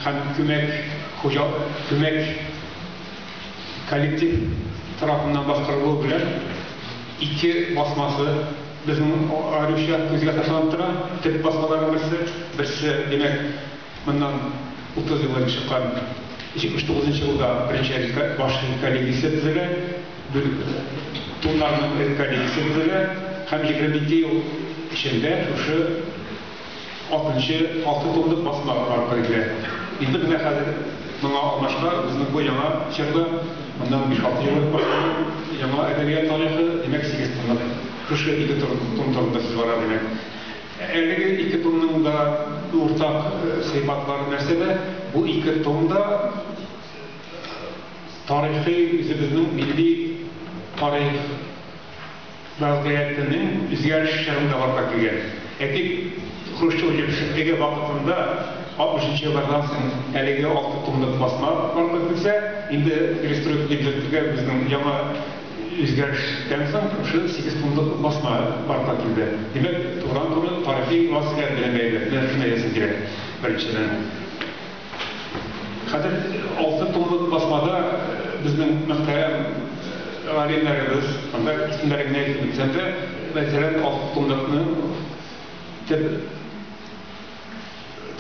һәм күмәк хуҗалык, күмәк коллектив тарафыннан башкарылуы белән ике басмасы безнең аеруча күзгә ташланып тора. Төп басмаларның берсе, берсе, димәк, моннан 30 ел элек чыккан 79 нчы елда беренче баш редколлегиясе төзелә, бүл туннарның редколлегиясе төзелә һәм 22 ел эчендә шушы Алтынчы, алты томлык басма барлыкка китерә. Инде менә хәзер моңа алмашка үзенең бу яңа чорда, моннан биш-алты ел элек башланган яңа әдәбият тарихы, димәк, сигез томлык шушы ике том том турында сүз бара, димәк. Әлеге ике томның да уртак сыйфатлары нәрсәдә? Бу ике том да тарихи, үзебезнең милли тарих, Вәзгыятенең үзгәреше чорында барлыкка килгән. Әйтик, Хрущев җитәкчелеге вакытында, 60 нчы еллардан соң әлеге алты томлык басма барлыкка килсә, инде перестройка дип йөртелгән безнең яңа үзгәрештән соң шушы сигез томлык басма барлыкка килде. Димәк, турыдан-туры тарихи вазгыять белән бәйле. Менә шуны әйтәсем килә, беренчедән. Хәзер алты томлык басмада безнең мөхтәрәм галимнәребез, анда исемнәрен генә әйтеп үтсәм дә, мәсәлән, алты томлыкны төп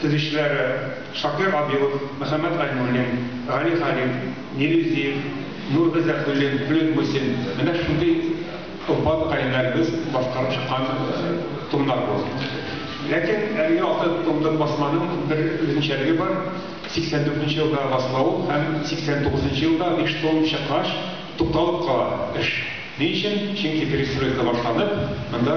төзүчеләре Шакир Абилов, Мөхәммәт Гайнуллин, Гали Халил, Нилүзиев, Нур Гыйззәтуллин, Флүт Мусин. Менә шундый Кымбат каеннәребез башкарып чыккан томнар бу. Ләкин әлеге алты томлык басманың бер үзенчәлеге бар, 84 нче елда басыла ул һәм 89 нчы елда биш том чыккач тукталып кала эш. Ни өчен? Чөнки перестройка башланып, монда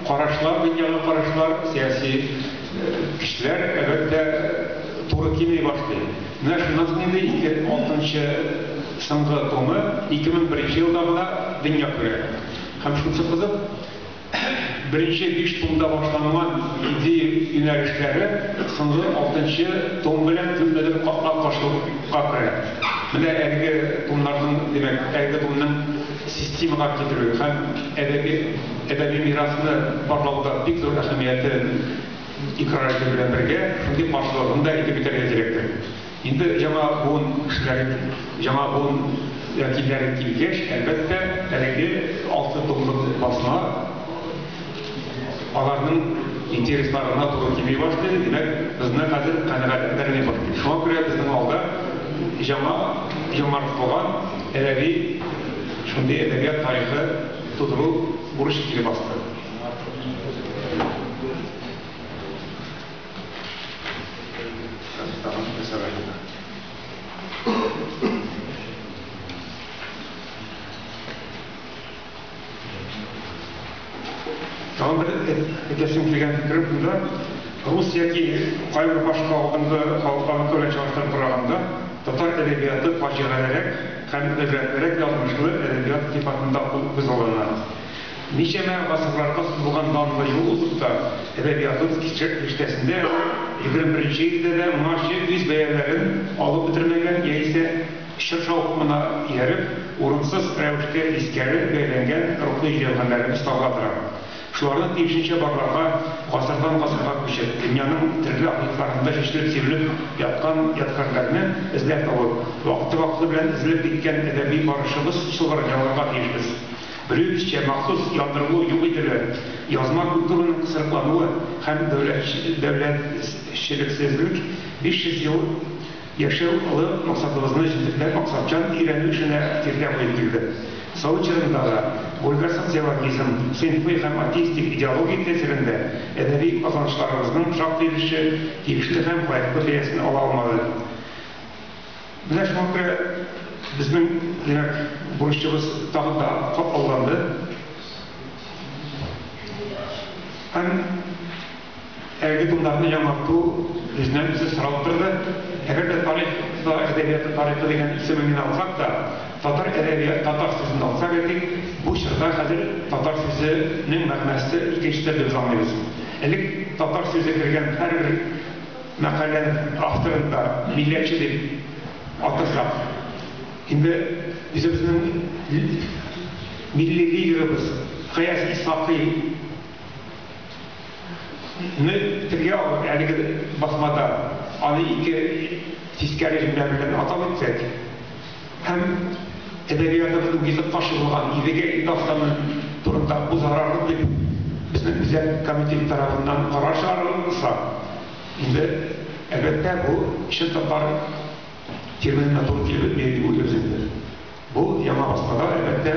карашлар, дөньяга карашлар, сәяси көчләр, әлбәттә, туры килми башлый. Менә шуннан соң инде ике, алтынчы. Соңгы томы 2001 нче елда гына дөнья күрә. Һәм шунысы кызык, беренче биш томда башланган идея юнәлешләре соңгы алтынчы том белән күпмедер капма-каршылыкка керә. Менә әлеге томнарның, димәк, әлеге томның системага китерүе һәм әдәби әдәби мирасны барлауда бик зур әһәмиятен икърар итү белән бергә, шундый каршылыгын да әйтеп үтәргә кирәктер. Инде яңа буын кешеләре, яңа буын вәкилләре килгәч, әлбәттә, әлеге алты томлык басма аларның интересларына туры килми башлый. Димәк, безне хәзер канәгатьләндерми башлый. Шуңа күрә безнең алда яңа яңартылган әдәби, шундый әдәбият тарихы тудыру бурычы килеп басты. Тагын бер әйтәсем килгән фикерем шунда, рус яки кайбер башка алдынгы халыклар белән чагыштырып караганда, татар әдәбияты фаҗигалерәк һәм гыйбрәтлерәк язмышлы әдәбият сыйфатында күзаллана. Ничәмә гасырларга сузылган данлы юл узып та, әдәбиятыбыз киштәсендә егерме беренче илдә дә моңарчы үз бәяләрен алып бетермәгән яисә чор шаукымына ияреп, урынсыз рәвештә тискәре бәяләнгән рухи җәүһәрләребез табыла тора. Шуларны тиешенчә барларга, гасырдан-гасырга күчеп, дөньяның төрле архивларында чәчелеп-сибелеп яткан ядкарьләрне эзләп табып, вакыты-вакыты белән өзелеп киткән әдәби барышыбыз чылбырын ялгарга тиешбез. Белүебезчә, махсус яндырылу юк ителә, язма культураның кысрыклануы һәм дәүләтчелексезлек 500 ел яшәү олы максатыбызны җентекләп максатчан өйрәнү эшенә киртә куеп килде. Совет чорында да Гольга социологизм, сыйнфый һәм атеистик идеология тәэсирендә әдәби казанышларыбызның шактый өлеше тиешле һәм лаеклы бәясен ала алмады. Менә шуңа күрә безнең, димәк, бурычыбыз тагын да катлауланды. Һәм әлеге томнарны яңарту бездән үзе соралып торды. Әгәр дә тарих та әдәбияты тарихы дигән исемен генә алсак та, татар әдәбияты, татар сүзен алсак әйтик, бу чорда хәзер татар сүзенең мәгънәсе икенче төрле, без аңлыйбыз. Элек татар сүзе кергән һәрбер Мәкалә авторын да милләтче дип атасак, инде үзебезнең милли лидерыбыз Гаяз Исхакый ны телгә алып, әлеге басмада аны ике тискәре җөмлә белән атау итсәк, һәм әдәбиятыбызның йөзеп качылмаган Идегәй дастаны турында узарар дип безнең үзәк комитет тарафыннан карар чыгарылса, инде, әлбәттә, бу чын татар терминына туры килми дип уйлыйбыз инде. Бу яңа басмада, әлбәттә,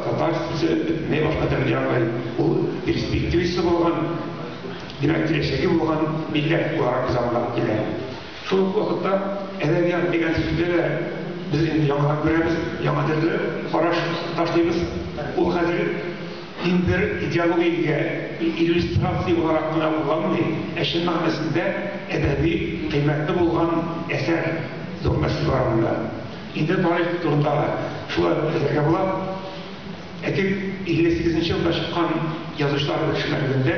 татар сүзе бөтенләй башка төрле яңгырый. Ул перспективасы булган, димәк, киләчәге булган милләт буларак без аңлап килә. Шул ук вакытта әдәбият дигән сүзне дә без инде яңадан күрәбез, яңа төрле караш ташлыйбыз. Ул хәзер ин бер идеологиягә иллюстрация буларак кына кулланылмый, ә чын мәгънәсендә әдәби кыйммәте булган әсәр, зур мәсьәлә бар монда. Инде тарих турында да шулай ук әйтергә була. Әйтик, 58 нче елда чыккан язучылар берләшмәлегендә,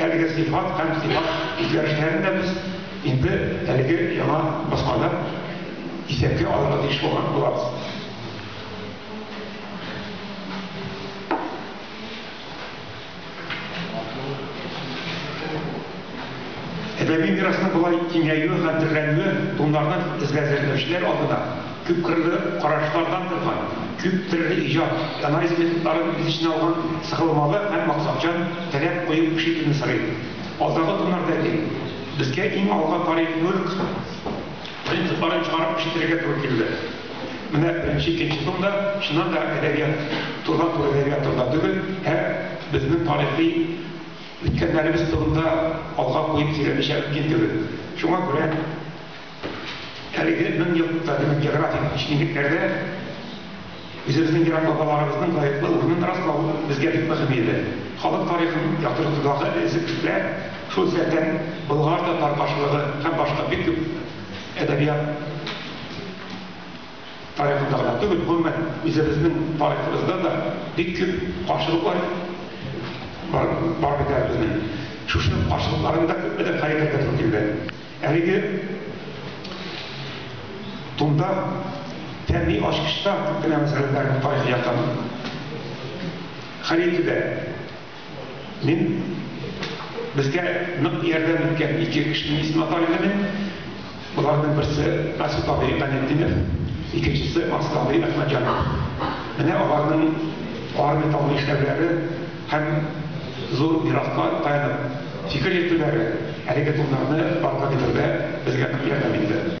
Әлеге сыйфат һәм сыйфат үзгәрешләрен дә без инде әлеге яңа басмада исәпкә алырга тиеш булган булабыз. Әдәби мирасның болай киңәюе һәм төрләнүе туңнардан эзләзерләүчеләр алдына Күпкырлы карашлардан торган, күп төрле иҗат, анализ методларын үз эченә алган сыгылмалы һәм максатчан таләп кую эш итүне сорый. Алдагы томнарда әйтик, безгә иң алга тарих мөлк принципларын чыгарып эш итәргә туры килде. Менә беренче, икенче том да, чыннан да, әдәбият, турыдан-туры әдәбият турында түгел, ә безнең тарихи үткәннәребез турында алга куеп сөйләмичә мөмкин түгел. Шуңа күрә. Әлеге мең еллыкта безнең географик кичкинлекләрдә үзебезнең ерак бабаларыбызның лаеклы урынын раслау безгә бик мөһим иде. Халык тарихын яктыртудагы эзлекләр, шул исәптән болгар-татар каршылыгы һәм башка бик күп әдәбият тарихында гына түгел, гомумән, үзебезнең тарихыбызда да бик күп каршылыклар бар бит әле безнең. Шушы каршылыкларны да күпмедер хәл итәргә туры килде. Әлеге томда тәмли ачкычтан күп кенә мәсьәләләрне тарихи яктан хәл итүдә мин безгә нык ярдәм иткән ике кешенең исемен атар идем мин. Боларның берсе Расул абый Ганиетдинов, икенчесе Мансур абый Әхмәтҗанов. Менә аларның армия табу эшләүләре Һәм зур мираска таянып фикер йөртүләре әлеге турнирны барлыкка китерүдә безгә нык ярдәм итте.